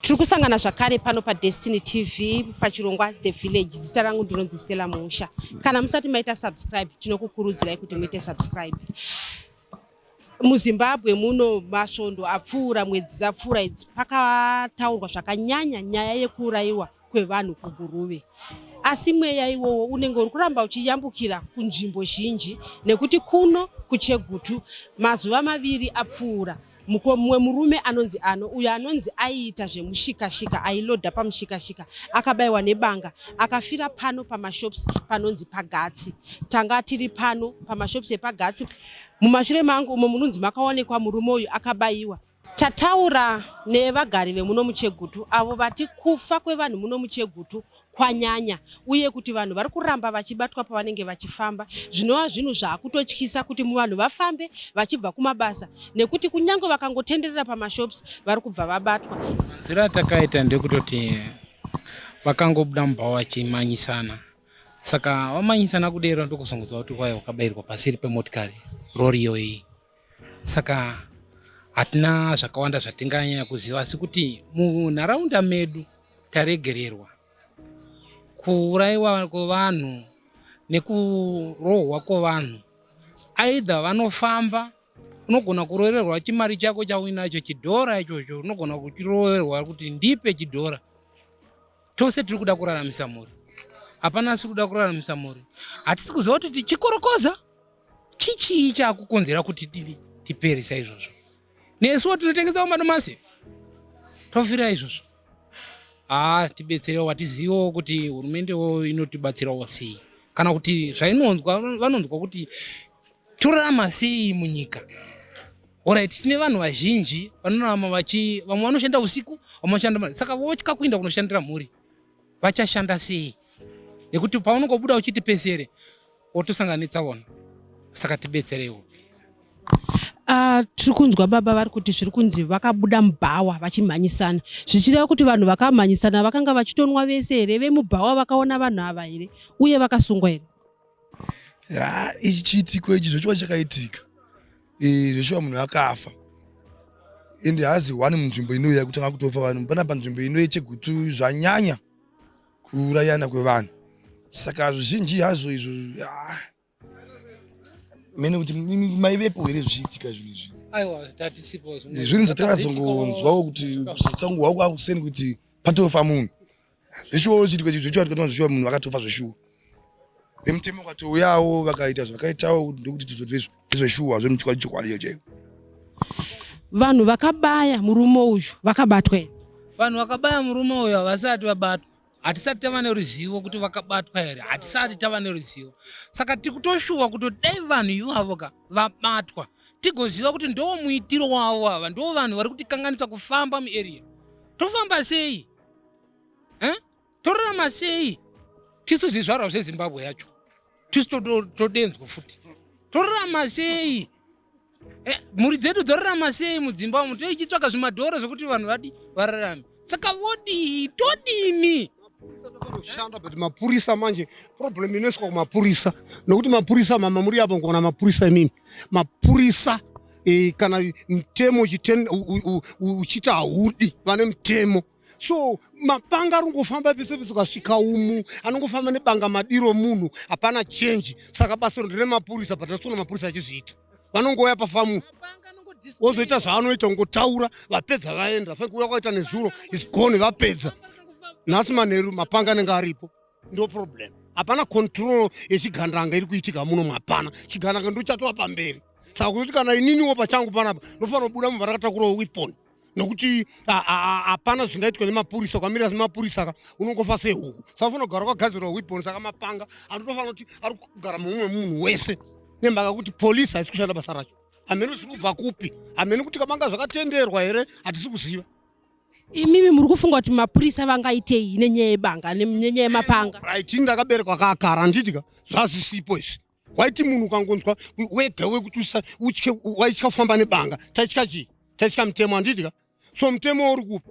tiri kusangana zvakare pano padestiny tv pachirongwa the village zita rangu ndinonzi stella musha kana musati maita subscribe tinokukurudzirai kuti muite subscribe muzimbabwe muno masvondo apfuura mwedzi dzapfuura idzi pakataurwa zvakanyanya nyaya yekuurayiwa kwevanhu kuGuruve asi mweya iwowo unenge uri kuramba uchiyambukira kunzvimbo zhinji nekuti kuno kuchegutu mazuva maviri apfuura mumwe murume anonzi ano uyo anonzi aiita zvemushikashika ailoda pamushikashika akabayiwa nebanga akafira pano pamashops panonzi pagatsi tanga tiri pano pamashops epagatsi mumashure mangu umo munonzi makaonekwa murume uyu akabayiwa Tataura nevagari vemuno muChegutu avo vati kufa kwevanhu muno muChegutu kwanyanya uye kuti vanhu vari kuramba vachibatwa pavanenge vachifamba zvinova zvinhu zvaakutotyisa kuti vanhu vafambe vachibva kumabasa nekuti kunyange vakangotenderera pamashops vari kubva vabatwa. Nzira takaita ndekutoti vakangobuda mubhawa vachimanyisana saka vamanyisana kudero ndokuzongonzwa kuti kwai wakabairwa pasiri pemotikari rori iyoyi. saka hatina zvakawanda zvatinganyanya kuziva asi kuti munharaunda medu taregererwa kuurayiwa kwevanhu nekurohwa kwevanhu aidha vanofamba unogona kurovererwa chimari chako chauinacho chidhora ichocho unogona kuchiroverwa kuti ndipe chidhora tose tiri kuda kuraramisa mhuri hapana asi kuda kuraramisa mhuri hatisi kuziva kuti tichikorokoza chichii chakukonzera kuti dini tipere saizvozvo nesuwo tinotengesawo madomasi tofira izvozvo haa tibetserewo vatizivewo kuti hurumendewo inotibatsirawo sei kana kuti zvainonzwa vanonzwa kuti torarama sei munyika orit tine vanhu vazhinji vanorarama vachi vamwe vanoshanda usiku vamwe vashanda saka votya kuinda kunoshandira mhuri vachashanda sei nekuti paunokobuda uchiti pesere wotosanganitsa wona saka tibetserewo Uh, tiri kunzwa baba vari kuti zviri kunzi vakabuda mubhawa vachimhanyisana zvichireva kuti vanhu vakamhanyisana vakanga vachitonwa vese here vemubhawa vakaona vanhu ava here uye vakasungwa here ah, ichi chiitiko ichi zvechiwa chakaitika eh, zvechiwa munhu akafa ende haazi one munzvimbo inoya kutanga kutofa vanhu panapa nzvimbo inoye chegutu zvanyanya kuurayana kwevanhu saka zvizhinji hazvo izvo ah, mene kuti maivepo here zvichiitika zvinhu izvi zvinhu zvatakazongonzwawo kuti tangu hwako akuseni kuti patofa munhu zveshuwa uchiitwa zveshuwa tikatona zveshuwa munhu akatofa zveshuwa vemutemo ukatouyawo vakaita zvakaitawo ndokuti tizodzwezvo ndezveshuwa zvemuchokwadi chokwadi iyo chaiyo vanhu vakabaya murume uyu vakabatwa here vanhu vakabaya murume uyu havasati vabatwa hatisati tava neruzivo kuti vakabatwa here hatisati tava neruzivo saka tiri kutoshuwa kuti dai vanhu ivavo ka vabatwa tigoziva kuti ndoo muitiro wavo ava ndoo vanhu vari kutikanganisa kufamba muarea tofamba sei torarama sei tisu zvizvarwa zvezimbabwe yacho tisu todenzwa futi torarama sei eh, mhuri dzedu dzorarama sei mudzimba umu toichitsvaka zvimadhoro zvekuti vanhu vadi vararame saka vodii todini kushanda but mapurisa manje problem inoiswa kumapurisa nokuti mapurisa mama muri apo nkuona mapurisa imini mapurisa e, kana mutemo uchiti haudi vane mutemo so mapanga ari kungofamba pese pese ukasvika umu anongofamba nebanga madiro munhu hapana change saka basa ndire mapurisa but asona mapurisa achizviita vanongouya pafamu wozoita zvaanoita ungotaura vapedza vaenda fai kuuya kwaita nezuro isgone vapedza nhasi manheru mapanga anenge aripo ndo problem hapana control yechigandanga iri kuitika muno mapana chigandanga ndochatova pamberi saka kuzoti kana ininiwo pachangu panapa ndofanira kubuda mumba rakatakurawo wiponi nokuti hapana zvingaitwa nemapurisa ukamira semapurisa ka unongofa sehuku saka fanira kugara kwagadzirwa weapon saka mapanga anotofanira kuti ari kugara mumwe munhu wese nemhaka kuti polisi haisi kushanda basa racho hamene ziri kubva kupi hamene kuti kamanga zvakatenderwa here hatisi kuziva imimi muri kufunga kuti mapurisa vangaitei nenyaya yebanga nenyaya yemapanga right ndakaberekwa kakara handiti ka zvazvisipo izvi waiti munhu ukangonzwa wega wekuti utye waitya kufamba nebanga taitya chii taitya mutemo handidika so mutemo uri kupi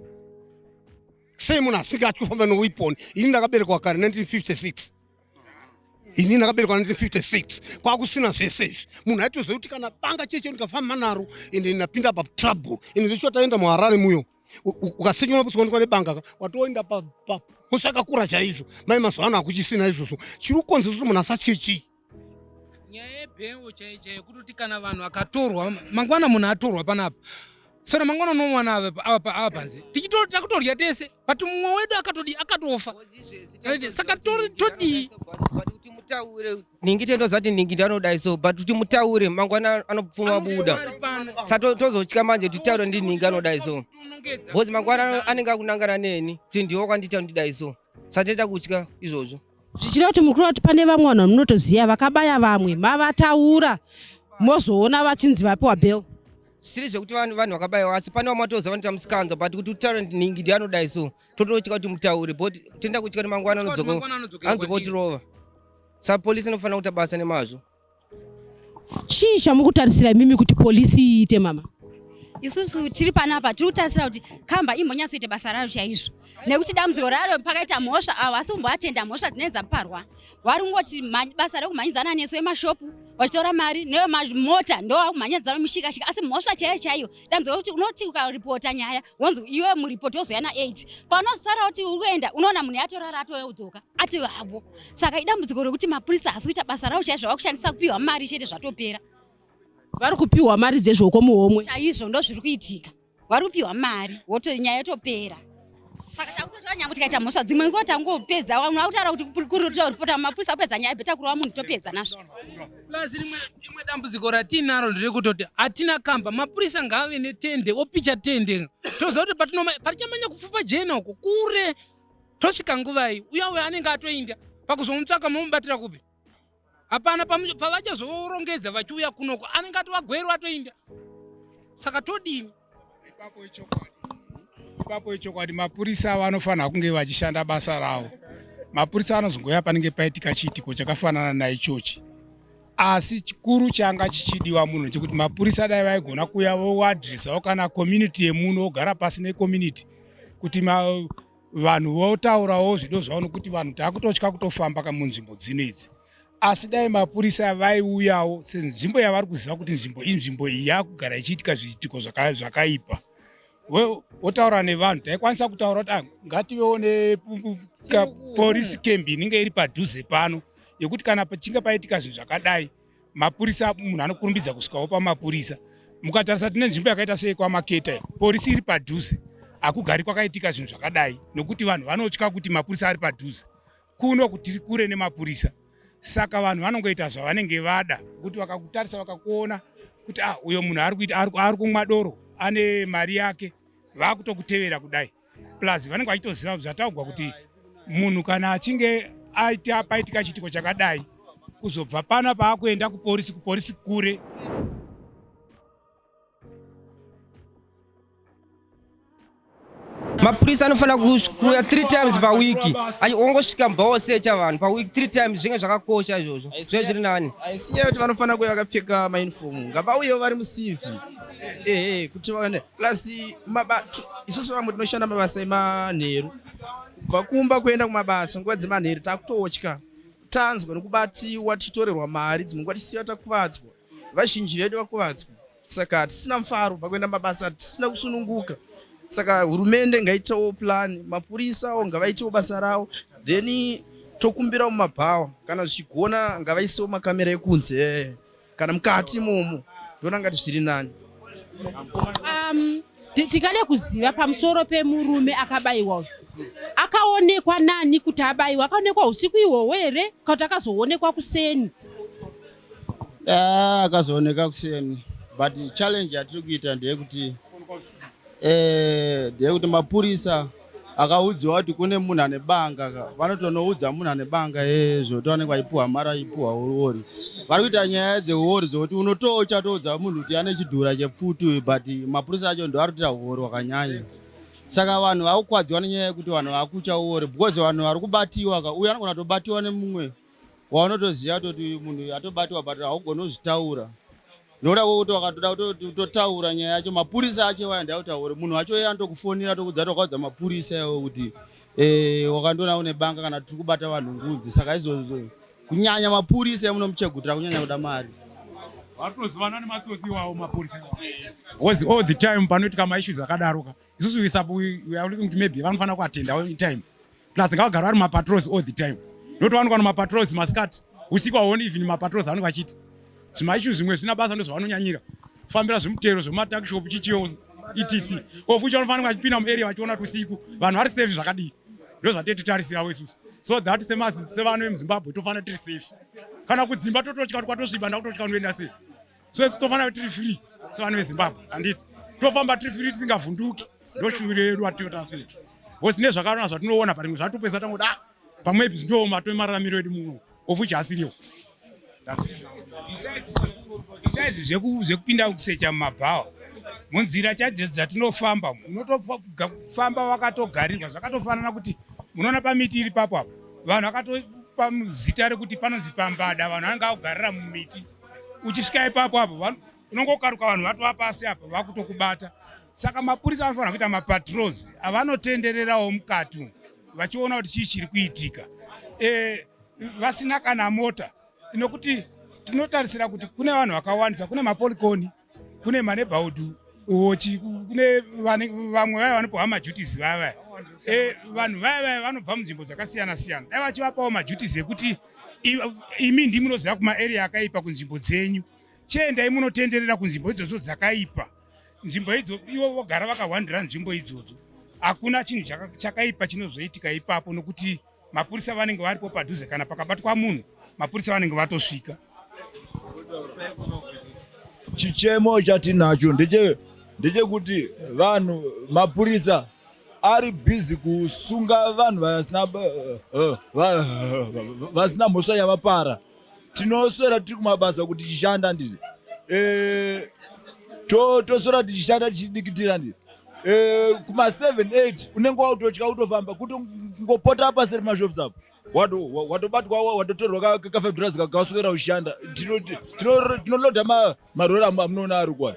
sei munhu asinga atyi kufamba newepon ini ndakaberekwa kare 1956 ini ndakaberekwa 1956 kwakusina zvese izvi munhu aitoziva kuti kana banga cheche ndikafamba naro ende ndapinda patrouble ende zvechiwa taenda muharare muyo ukatsinywa kutswanikwa nebanga ka watoenda musakakura chaizvo mai mazuva ano hakuchisina izvozvo chiri kukonzesa kuti munhu asatye chii nyaya yebhengo chaiyo chaiyo kutoti kana vanhu akatorwa mangwana munhu atorwa panapa saka mangwana unomwana ava panze takutodya tese but mumwe wedu akatofa saka todii nhingi tendo zati nhingi ndanodai so but kuti mutaure mangwana anopfuma buda sa tozotya manje titaure ndi nhingi anodai so bcause mangwana anenge akunangana neni kuti ndiwo kwandita ndidai so satoita kutya izvozvo zvichida kuti mukuru vati pane vamwe vanhu vamunotoziva vakabaya vamwe mavataura mozoona vachinzi vapiwa bel siri zvekuti vanhu vanhu vakabayiwa asi pane vamatoza vanoita musikanzwa but kuti utalent ningi ndi anodai so tototyika kuti mutaure but tenda kutyika kuti mangwana anodzoka otirova Sa police inofanira kuita basa nemazvo. Chii chamukutarisira imimi kuti police iite mama? isusu tiri panapa tiri kutarisira kuti kamba imbonyatsoita basa rayo chaizvo nekuti dambudziko raro pakaita mhosva avo asi kumboatenda mhosva dzinenge dzaparwa wari kungoti basa rekumhanyidzana nesu vemashopu vachitora mari nevemamota ndovakumhanyidzana mushikashika asi mhosva chaiyo chaiyo dambudziko rekuti unoti ukaripota nyaya wonzi iwe muripoti wozoya na8 paunozosara kuti uri kuenda unoona munhu yatorara atoya kudzoka atoyo havo saka idambudziko rekuti mapurisa hasi kuita basa ravo chaizvo vakushandisa kupiwa mari chete zvatopera vari kupiwa mari dzezvoko muhomwe chaizvo ndo zviri kuitika vari kupiwa mari woto nyaya yotopera saka takutozva nyanga tikaita mhosva dzimwe ngo tangopedza vanhu vakutaura kuti kuripota mapurisa kupedza nyaya beta kurova munhu topedza nazvo plus rimwe rimwe dambudziko ratiinaro nderekutoti hatina kamba mapurisa ngaave netende opicha tende toziva kuti patichamanya kupfupa jena uko kure tosvika nguvai uya uyo anenge atoinda pakuzomutsvaka momubatira kupi hapana pavachazorongedza vachiuya kunoko anenge atovagwerwa atoinda saka todini ipapo ichokwadi ipapo ichokwadi mapurisa avo anofanira kunge vachishanda basa ravo mapurisa anozongoya panenge paitika chiitiko chakafanana naichochi asi chikuru changa chichidiwa munhu chekuti mapurisa dai vaigona kuya voadresawo kana community yemuno ogara pasi necommunity kuti ma, vanhu votaurawo zvido zvavo nokuti vanhu takutotya kutofamba ka munzvimbo dzino idzi asi dai mapurisa vaiuyawo senzvimbo yavari kuziva kuti nzvimbo inzvimbo iyi yakugara ichiitika zviitiko zvakaipa wotaura nevanhu taikwanisa kutaura kuti ah, ngativewo neporisi camp inenge iri padhuze pano yekuti kana pachinge paitika zvinhu zvakadai mapurisa munhu anokurumbidza kusvikawo pamapurisa mukatarisa tine nzvimbo yakaita sei kwamaketa porisi iri padhuze hakugari kwakaitika zvinhu zvakadai nokuti vanhu vanotya kuti mapurisa ari padhuze kuno kutiri kure nemapurisa saka vanhu vanongoita zvavanenge vada kuti vakakutarisa vakakuona kuti ah uyo munhu ari kuita ari kumwa doro ane mari yake vakutokutevera kudai plus vanenge vachitoziva zvataugwa kuti munhu kana achinge aita paitika chiitiko chakadai kuzobva pano paakuenda kuporisi kuporisi kure mapurisa anofanira kuuya three times pawiki ongosvika mbaosecha vanhu pawiki three times zvinge zvakakosha izvozvo zve zviri nani aisinyaya kuti vanofanira kuya vakapfeka maunifomu ngavauyewo vari musivi ehe kuti vaone plus isusu vamwe tinoshanda mabasa emanheru kubva kumba kuenda kumabasa nguva dzemanheru takutotya tanzwa nekubatiwa tichitorerwa mari dzimwe nguva tichisiva takuvadzwa vazhinji vedu vakuvadzwa saka hatisina mufaro pakuenda mabasa hatisina kusununguka saka hurumende ngaitewo plan mapurisawo ngavaitewo basa rawo then tokumbirawo mumabhawa kana zvichigona ngavaisewo makamera ekunze kana mukati imomo ndoona ngati zviri nani um, tikade kuziva pamusoro pemurume akabayiwa uyu akaonekwa nani kuti abayiwa akaonekwa usiku ihwohwo here kana kuti akazoonekwa kuseni ah, akazooneka kuseni but challenge yatiri kuita ndeyekuti eh, ndeyekuti mapurisa akaudziwa kuti kune munhu ane banga vanotonoudza munhu ane banga ezvo kuti vanenge vachipuhwa mari vachipuhwa uori vari kuita nyaya dzeuori dzokuti unotoo uchatoudza munhu kuti ane chidhura chepfutu but mapurisa acho ndo ari kuita uori hwakanyanya saka vanhu vakukwadziwa nenyaya yekuti vanhu vakutya uori because vanhu vari kubatiwa ka uyo anogona tobatiwa nemumwe waunotoziva toti uyu munhu uyu atobatwa but haugoni kuzvitaura nokuda kwokuti wakatoda kutoti utotaura nyaya yacho mapurisa acho iwayo ndautaure munhu wacho iye anotokufonera tokudza tokaudza mapurisa iwayo kuti e, wakandiona une banga kana tiri kubata vanhu ngunzi saka izvozvo kunyanya mapurisa emunomuchegutira kunyanya kuda mari vatozivana nematsotsi iwawo mapurisa iwawo all the time panoitika maissues akadaroka isusu wesapo we are looking to maybe vanofanira kuatenda all the time plus ngavagara vari mapatrols all the time not vanokwa nemapatrols masikati usiku aone even mapatrols anenge vachiti zvimaishu zvimwe zvisina basa ndozvavanonyanyira kufambira zvemutero zvematakshopu chichiyo etc of which vanofanira vachipinda muarea vachiona kuti usiku vanhu vari safe zvakadii ndozvatetitarisirawo isusu so that sevana vemuzimbabwe tofanira tiri safe kana kudzimba tototya kuti kwatosviba ndakutotya kunoenda sei Sisi tofana kuti tiri free sevanhu veZimbabwe handiti tofamba tiri free tisingavhunduki ndoshuviro yedu atiota sei because nezvakarona zvatinoona parimwe zvatopesa tangoda ah, pamwepi zvindooma tove mararamiro edu muno of which asiriwo besides zvekupinda kusecha mumabhawa munzira chadzo dzatinofamba unotofamba wakatogarirwa zvakatofanana kuti munoona pamiti iri papo apo vanhu vakatopa zita rekuti panonzi pambada vanhu vanenge akugarira mumiti uchisvika ipapo apo unongokaruka vanhu vatova pasi apa vakutokubata saka mapurisa anofanira kuita mapatrols avanotendererawo mukati vachiona kuti chii chiri kuitika e, vasina kana mota nokuti tinotarisira kuti kune vanhu vakawandisa kune mapolikoni kune manebhaudu uochi kune vamwe vaya vanopiwa majutis vaya vaya e, vanhu vaya vaya vanobva munzvimbo dzakasiyana siyana dai vachivapawo majutis ekuti imi ndi munoziva kumaarea akaipa kunzvimbo dzenyu chiendai munotenderera kunzvimbo idzodzo dzakaipa nzvimbo idzo ivo vogara vakahwandira nzvimbo idzodzo hakuna chinhu chakaipa chinozoitika ipapo nokuti mapurisa vanenge varipo padhuze kana pakabatwa munhu mapurisa vanenge vatosvika chichemo chatinacho ndeche ndechekuti vanhu mapurisa ari busy kusunga vanhu vasina eh, eh, eh, mhosva yavapara tinoswera tiri kumabasa kuti tichishanda ndiri eh, toswera tichishanda tichidikitira ndiri eh, kuma 78 unenge wautotya utofamba kuti ngopota apa seri mashops apo watobatwa watotorwa kafedhurazi kakaswera ushanda tinolodha marori amunoona ari kwayo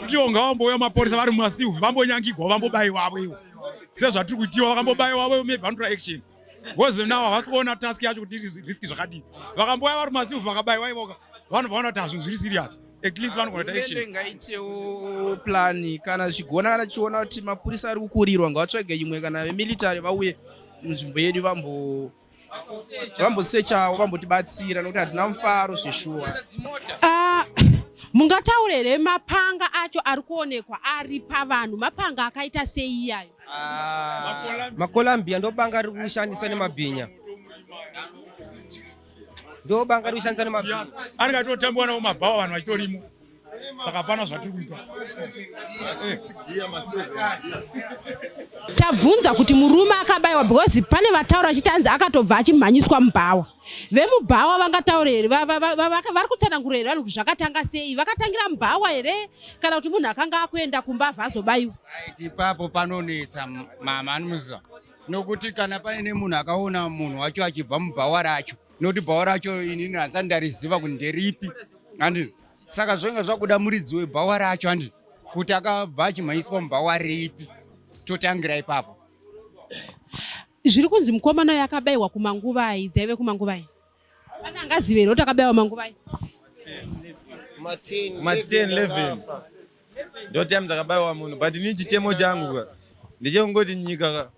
kutiwo ngavambouya maporisa vari mumasilve vambonyangigwa vambobaiwa avo ivo sezvatiri kuitiwa vakambobaiwa avo maybe vanotora action bcause now havasi kuona task yacho kuti risk zvakadii vakambouya vari mumasilve vakabaiwa ivoka vanhu vaona kuti hazvinhu zviri serious at least vanogona kuita action ngaitewo plan kana zvichigona kana chiona kuti mapurisa ari kukurirwa ngatsvage imwe kana vemilitary vauye munzvimbo yedu vambo vambosechawo vambotibatsira nokuti hatina mufaro zveshuwa ah, mungataure here mapanga acho ari kuonekwa ari pavanhu mapanga akaita sei iyayo ah, makolambia ndobanga ari kushandiswa nemabhinya ndobanga ari kushandiswa nemabhinya ari katotambiwa nawo mabhawa vanhu vachitorimo saka hapana zvatiri kuita tabvunza kuti murume akabayiwa because pane vataura achiti anzi akatobva achimhanyiswa mubhawa vemubhawa vangataure here vari kutsanangura here vanhu kuti zvakatanga sei vakatangira mubhawa here kana kuti munhu akanga akuenda kumba abva azobayiwa ipapo panonetsa mama anomuziva nokuti kana paine munhu akaona munhu wacho achibva mubhawa racho nokuti bhawa racho inini hanzani ndariziva kuti nderipi andii saka zvainge zvakuda muridzi webhawa racho andi kuti akabva achimhanyiswa mubhawa ripi totangira ipapo zviri kunzi mukomana uyo akabayiwa kumanguvai dzaive kumanguvai pane angazive here kuti akabayiwa manguvai ma10 11 ndo time dzakabayiwa munhu but ini chichemo changu ka ndichekungoti nyika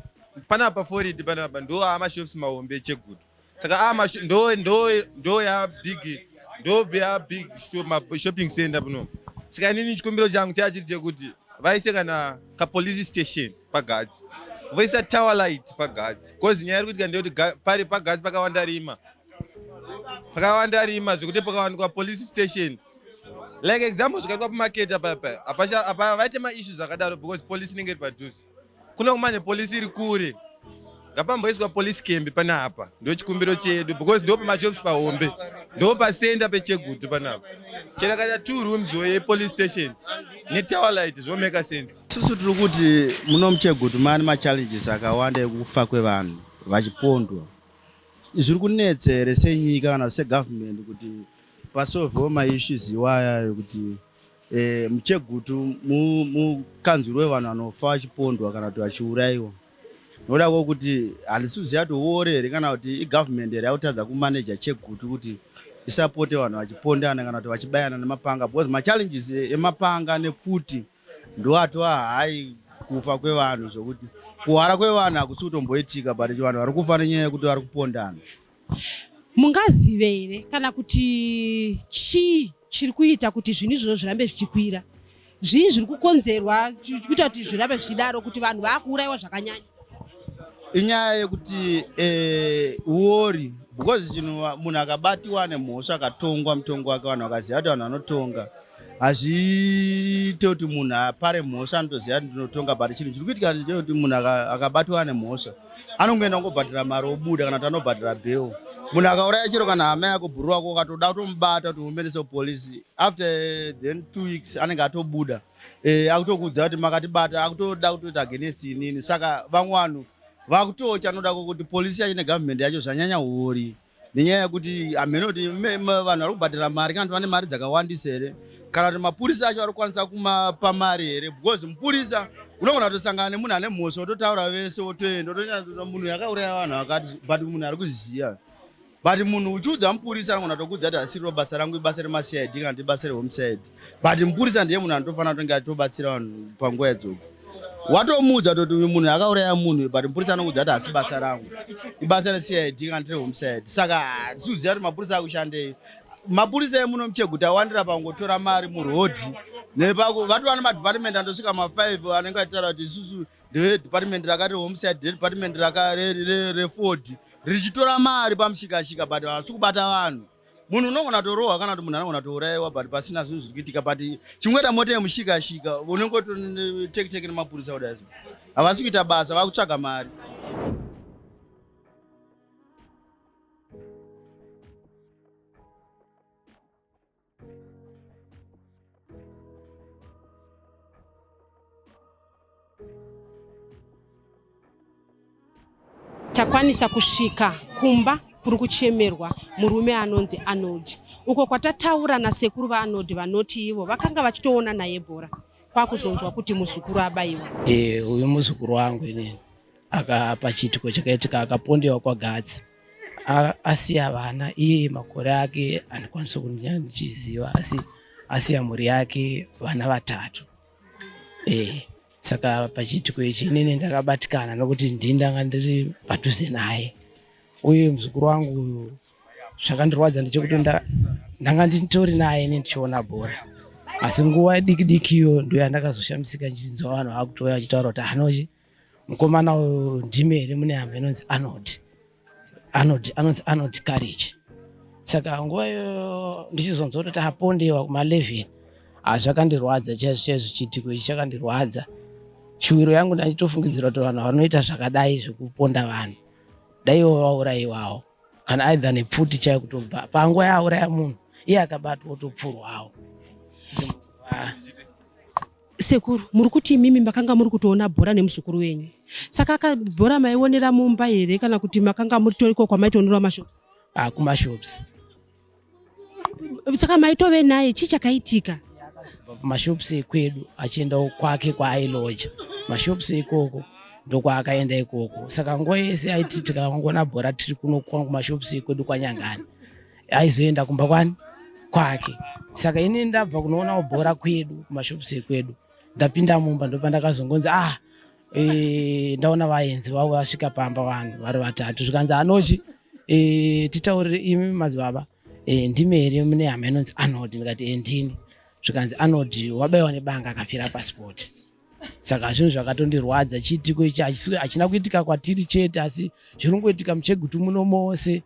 panapa foridi panapa ndo amashops mahombe echegudo saka ama ah, ndo ndo ndo ya big ndo ya big shopping center pano saka inini chikumbiro changu chachiri chekuti vaise kana kapolice station pagadzi voisa tower light pagadzi bcause nyaya iri kuitika ndeyoti pari pagadzi pakawanda rima pakawanda rima zvekuti pakawanikwa police station like example zvikaitwa pamaketa papa apa vaite maissues akadaro because police inenge iri padhuze Kune kumanya police iri kure. Ngapamboiswa police camp panapa. Ndio chikumbiro chedu because ndio pama jobs pahombe. Ndio pa center pe Chegutu panapa. Chera kana two rooms we police station. Ne tower light zvo make sense. Susu tiri kuti muno muChegutu mane ma challenges akawanda ekufa kwevanhu vachipondwa. Zviri kunetsa here senyika kana segovernment kuti pasolvewo maissues iwaya ekuti E, muchegutu mukanzwiro wevanhu vanofa vachipondwa kana kuti vachiurayiwa nokuda kwokuti handisuzi yati uore here kana kuti igovernment here yakutadza kumaneja chegutu kuti isapote vanhu vachipondana kana kuti vachibayana nemapanga because machallenges emapanga nepfuti ndo atova hai kufa kwevanhu zvokuti kuhwara kwevanhu hakusi kutomboitika but vanhu vari kufa nenyaya yekuti vari kupondana Mungazive here kana kuti chii chiri kuita kuti zvinhu izvozvo zvirambe zvichikwira? Zvii zviri kukonzerwa kuita kuti zvirambe zvichidaro kuti vanhu vakuurayiwa zvakanyanya? Inyaya yekuti eh, uori e, because chinhu munhu akabatiwa nemhosva akatongwa mutongo wake vanhu vakaziva kuti vanhu vanotonga hazviite kuti munhu apare mhosva anotoziva kuti ndinotonga but chinhu chiri kuitika ndechekuti munhu akabatwa ane mhosva anongoenda kungobhadhira mari obuda kana kuti anobhadhira bheo munhu akauraya chero kana hama yako bhuru wako ukatoda kutomubata kuti uomerese polisi after then two weeks anenge atobuda eh, akutokuudza kuti makatibata akutoda kutoita against inini saka vamwe vanhu vakutocha anoda kuti polisi yacho negovernment yacho zvanyanya huori nenyaya yekuti hamheno kuti vanhu vari kubhadhara mari kana kuti vane mari dzakawandisa here kana kuti mapurisa acho vari kukwanisa kumapa mari here because mupurisa unogona kutosangana nemunhu ane mhosva ototaura vese otoenda otoenda munhu yakauraya vanhu akati but munhu ari kuziva but munhu uchiudza mupurisa anogona kutokudza kuti asiriro basa rangu ibasa remacid kana kuti ibasa rehomecid but mupurisa ndiye munhu anotofanira kutonge atobatsira vanhu panguva yadzodzo watomuudza toti uyu munhu akauraya munhu but mupurisa anokuudza kuti hasi basa rangu ibasa recid kana tiri homecide saka hatisiuziva kuti mapurisa akushandei mapurisa emuno mucheguta awandira pangotora mari murodhi nepako vati vana madepartment andosvika mafive anenge atitaura kuti isusu ndevedepartment rakati homeside redepartment reford richitora mari pamushikashika but havasi kubata vanhu munhu unogona torohwa kana kuti munhu anogona tourayiwa but pasina zvinhu zviri kuitika but chimweta mota yemushikashika unenge totekiteke nemapurisa kudai havasi kuita basa vakutsvaga mari takwanisa kusvika kumba kuri kuchemerwa murume anonzi arnold uko kwatataura nasekuru vaarnold vanoti ivo vakanga vachitoona naye bhora kwakuzonzwa kuti muzukuru abaiwa e, uyu muzukuru wangu inini aka pachiitiko chakaitika akapondewa kwagatsi asiya vana iye makore ake andikwanisa kunya ndichiziva asi asiya mhuri yake vana vatatu e, saka pachiitiko ichi inini ndakabatikana nokuti ndii ndanga ndiri padhuze naye uye muzukuru wangu uyu zvakandirwadza ndechekuti ndanga nditori naye ini ndichiona bhora asi nguva diki diki iyo ndoyandakazoshamisika ndichinzwa vanhu vakutouya vachitaura kuti hanochi mukomana uyu ndime here mune hama inonzi anod anod anonzi anod courage saka nguva iyo ndichizonzwa kutoti apondewa kuma11 hazvakandirwadza chaizvo chaizvo chiitiko ichi chakandirwadza shuwiro yangu ndanditofungidzira kuti vanhu vanoita zvakadai zvekuponda vanhu daiwo vaurayiwawo kana aidha nepfuti chaiyo kutobva panguva yaauraya munhu iye akabatwa otopfurwawo Sekuru, muri kuti imimi makanga muri kutoona bhora nemuzukuru wenyu. Saka aka bhora maionera mumba here kana kuti makanga muri toriko kwamaitoonera mashops? Ah, kumashops. Saka maitove naye chii chakaitika? Mashops ekwedu achienda kwake kwaailoja. Mashops ikoko ndokwaakaenda ikoko. Saka nguva yese aiti tikangona bhora tiri kuno kwangu mashops ekwedu kwanyangani. aizoenda kumba kwani kwake saka ini ndabva kunoonawo bhora kwedu kumashops ekwedu ndapinda mumba ndopa ndakazongonzi ah e, ndaona vaenzi vavo vasvika pamba vanhu vari vatatu zvikanzi anochi e, eh, titaurire imi madzibaba e, ndimi here mune hama inonzi anod ndikati e, ndini zvikanzi anod wabaiwa nebanga akafira pasipoti saka zvinhu zvakatondirwadza chiitiko ichi hachina kuitika kwatiri chete asi zviri kungoitika muchegutu muno mose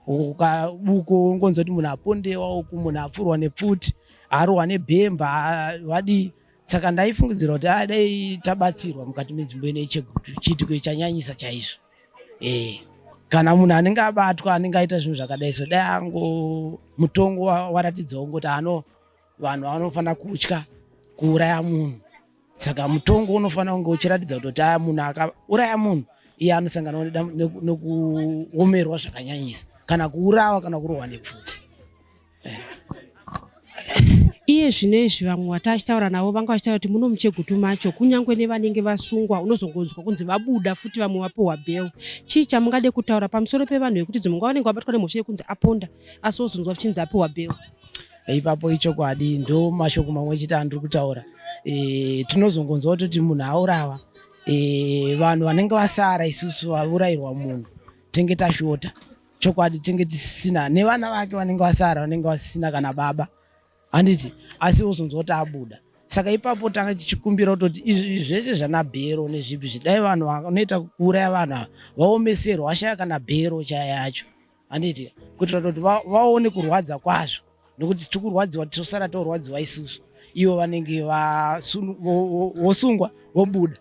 ukabuko ungonzwa kuti munhu apondewa uku munhu apfurwa nepfuti arohwa nebhemba vadii saka ndaifungidzira kuti adai ah, tabatsirwa mukati menzvimbo ino yechegutu chiitiko chanyanyisa chaizvo e kana munhu anenge abatwa anenge aita zvinhu zvakadai so dai ango mutongo waratidzawo ngoti ano vanhu vanofanira kutya kuuraya munhu saka mutongo unofanira kunge uchiratidza kutoti aya munhu akauraya munhu iye anosangana nekuomerwa zvakanyanyisa kana kuurawa kana kurohwa nepfuti eh. iye zvino izvi vamwe vati achitaura navo vanga vachitaura kuti muno muchegutu macho kunyange nevanenge vasungwa unozongonzwa kunzi vabuda futi vamwe vapiwa bhel chii chamungade kutaura pamusoro pevanhu vekuti dzimwe nguva vanenge vabatwa nemhosva yekunzi aponda asi ozonzwa vachinzi apiwa bhel ipapo ichokwadi ndo mashoko mamwe chete andiri kutaura e, tinozongonzwa kutoti munhu aurawa e, vanhu vanenge vasara isusu vaurayirwa munhu tenge tashota chokwadi tenge tisisina nevana vake vanenge vasara vanenge vasisina kana baba handiti asi uzonzwa kuti abuda saka ipapo tanga tichikumbira kutoti izvi zvese zvana bhero nezvipi zvidai vanhu vanoita kuuraya vanhu ava vaomeserwa vashaya kana bhero chaya yacho handiti kuitira kuti vaone kurwadza kwazvo nekuti tiri kurwadziwa tisosara torwadziwa isusu ivo vanenge vosungwa vobuda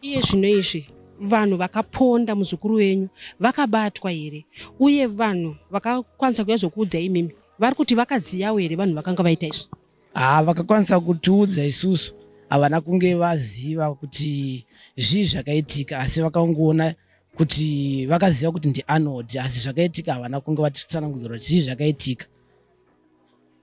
iye zvino izvi vanhu vakaponda muzukuru wenyu vakabatwa here uye vanhu vakakwanisa kuya zvokuudza imimi vari kuti vakaziyawo here vanhu vakanga vaita izvi Haa vakakwanisa kutiudza isusu havana kunge vaziva kuti zvii zvakaitika asi vakangoona kuti vakaziva kuti ndianod asi zvakaitika havana kunge vatitsanangudzira kuti zvii zvakaitika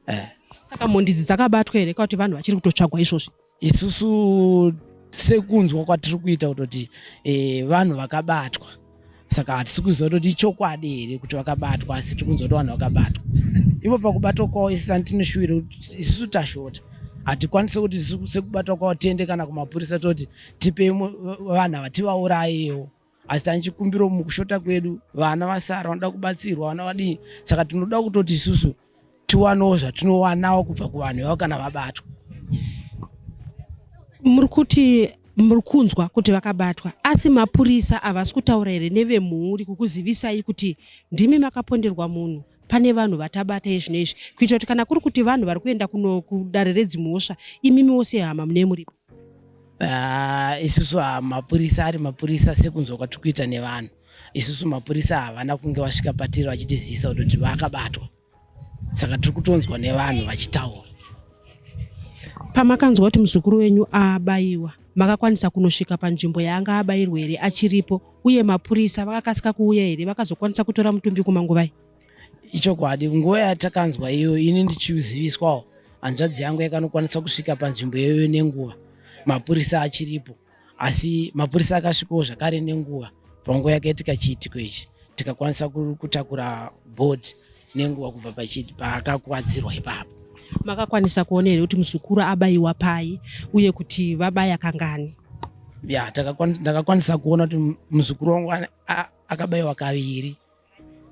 eh. saka mhondizi dzakabatwa here kakuti vanhu vachiri kutotsvagwa izvozvi isusu sekunzwa kwatiri kuita kutoti e, vanhu vakabatwa saka hatisi kuziva kutoti ichokwadi here kuti vakabatwa asi tiri kunzwa kuti vanhu vakabatwa ivo pakubatwa kwavo isi ani tinoshuwira kuti isusu tashota hatikwanise kuti sekubatwa kwavo tiende kana kumapurisa toti tipei vanhu havativaurayewo asi tane chikumbiro mukushota kwedu vana vasara vanoda kubatsirwa vana vadii saka tinoda kutoti isusu tiwanewo zvatinowanawo kubva kuvanhu vavo kana vabatwa muri kuti muri kunzwa kuti vakabatwa asi mapurisa havasi kutaura here nevemhuri kukuzivisai kuti ndimi makaponderwa munhu pane vanhu vatabata izvino izvi kuitira kuti kana kuri kuti vanhu vari kuenda kuno kudare redzimhosva imimiwo sehama mune muripo Ah, isusu ah, mapurisa ari mapurisa sekunzwa kwatiri kuita nevanhu isusu mapurisa havana kunge vasvika patiri vachitizivisa kutoti vakabatwa saka tiri kutonzwa nevanhu vachitaura pamakanzwa kuti muzukuru wenyu abayiwa makakwanisa kunosvika panzvimbo yaanga abayirwa here achiripo uye mapurisa vakakasika kuuya here vakazokwanisa kutora mutumbi kumanguvai ichokwadi nguva yatakanzwa iyo ini ndichiziviswawo hanzvadzi yangu yakanokwanisa kusvika panzvimbo iyoyo nenguva mapurisa achiripo asi mapurisa akasvikawo zvakare nenguva panguva yakaitika chiitiko ichi tikakwanisa kutakura bod nenguva kubva paakakwadzirwa ipapo makakwanisa kuona here kuti muzukuru abayiwa pai uye kuti vabaya kangani ya ndakakwanisa kuona kuti muzukuru wangu akabayiwa kaviri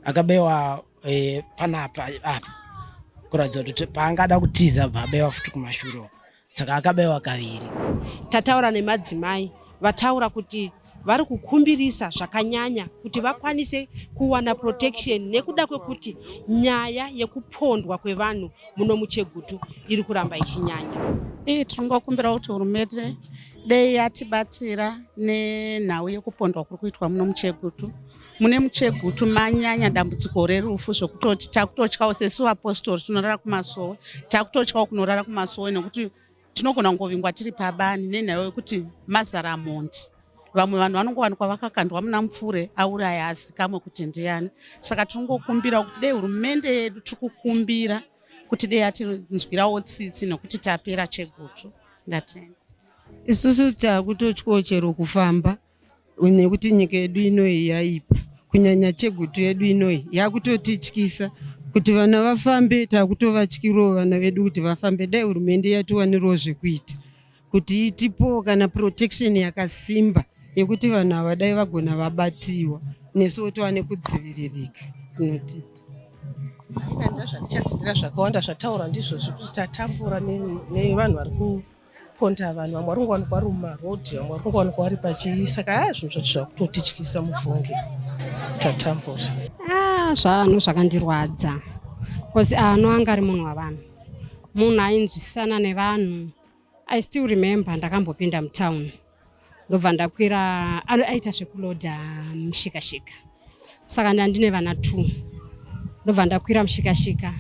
akabewa eh, panapa apa kuratidza kuti paangada kutiza bva abewa futi kumashuro saka akabewa kaviri tataura nemadzimai vataura kuti vari kukumbirisa zvakanyanya kuti vakwanise kuwana protection nekuda kwekuti nyaya yekupondwa kwevanhu muno muchegutu iri kuramba ichinyanya ii tinongokumbira kuti hurumende dei yatibatsira nenhau yekupondwa kuri kuitwa muno muchegutu mune muchegutu manyanya dambudziko rerufu zvokutoti takutotyawo sesu vapostori tinorara kumasowe takutotyawo kunorara kumasowe nekuti tinogona kungovingwa tiri pabani nenhau yekuti mazara mhondi vamwe vanhu vanongowanikwa vakakandwa muna mupfure auraya azikamwe kuti ndiyani saka tinongokumbirawo kuti dei hurumende yedu tiri kukumbira kuti dei atinzwirawo tsitsi nekuti tapera chegutu ndatenda isusu takutotyawo chero kufamba nekuti nyika yedu inoyi yaipa kunyanya chegutu yedu inoyi yakutotityisa kuti vana vafambe takutovatyirawo vana vedu kuti vafambe dai hurumende yatiwanirawo zvekuita kuti itipowo kana protection yakasimba yekuti vanhu ava dai vagona vabatiwa nesu wotova nekudziviririka inotiti zvatichatsidira zvakawanda zvataura ndizvozvo kuti tatambura nevanhu vari ponda vanhu vamwe vari kungowanikwa vari mumarodhi vamwe vari kungowanikwa vari pachii saka haa zvinhu zvacho zvakutotityisa mufunge tatambura ah, zvanhu zvakandirwadza bcause ano anga ari munhu wavanhu munhu ainzwisisana nevanhu i still remember ndakambopinda mutown ndobva ndakwira aita zvekuloda mushikashika saka ndandine vana t ndobva ndakwira mushikashika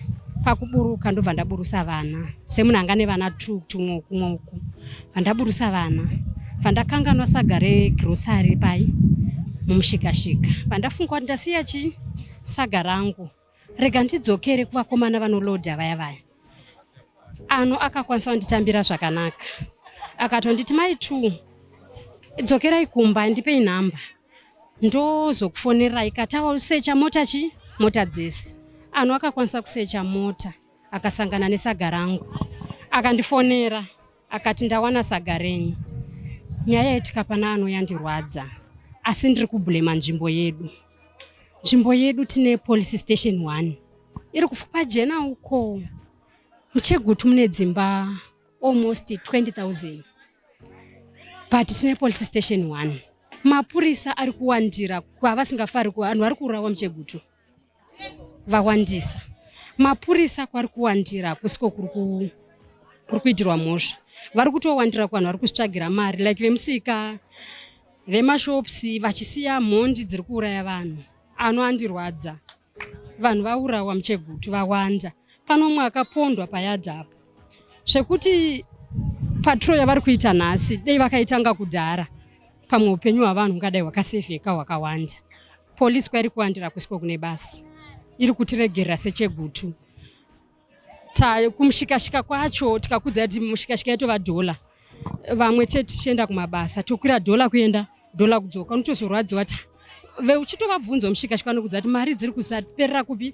pakuburuka ndobva ndaburusa vana semunhu anga nevana t tumwe kumwe uku vandaburusa vana vandakanganwa saga regrosary pai mumushikashika vandafunga kuti ndasiya chi saga rangu Rega ndidzokere kuvakomana vanoloadha vaya vaya. Ano akakwanisa kunditambira zvakanaka. Akatonditi mai two dzokerai kumba ndipei nhamba ndozokufonerai katawa usecha mota chi mota dzese. Ano akakwanisa kusecha mota akasangana nesaga rangu akandifonera. Akati ndawana saga renyu. Nyaya yetika pana ano yandirwadza asi ndiri kublema nzvimbo yedu. Nzvimbo yedu tine police station 1 iri kufupa jena uko. Muchegutu mune dzimba almost 20,000 but tine police station 1 mapurisa ari kuwandira kwavasingafari kuvanhu vari kuurawa muchegutu vawandisa mapurisa kwari kuwandira kusiko kuri kuitirwa mhosva vari kutowandira kuvanhu vari kusvagira mari like vemusika vemashops vachisiya mhondi dziri kuuraya vanhu ano andirwadza vanhu vaurawa muchegutu vawanda pano umwe akapondwa payadha apa zvekuti patro yavari kuita nhasi dei vakaitanga kudhara pamwe upenyu hwavanhu ungadai hwakasevheka hwakawanda Polisi kwairi kuwandira kusiko kune basa iri kutiregerera sechegutu kumushikashika kwacho tikakudza kuti mushikashika yatova dhola vamwe chete tichienda kumabasa tokwira dhola kuenda dhola kudzoka unotozorwadziwa ti veuchitovabvunza mushikashika anokudza kuti mari dziri kusaperera kupi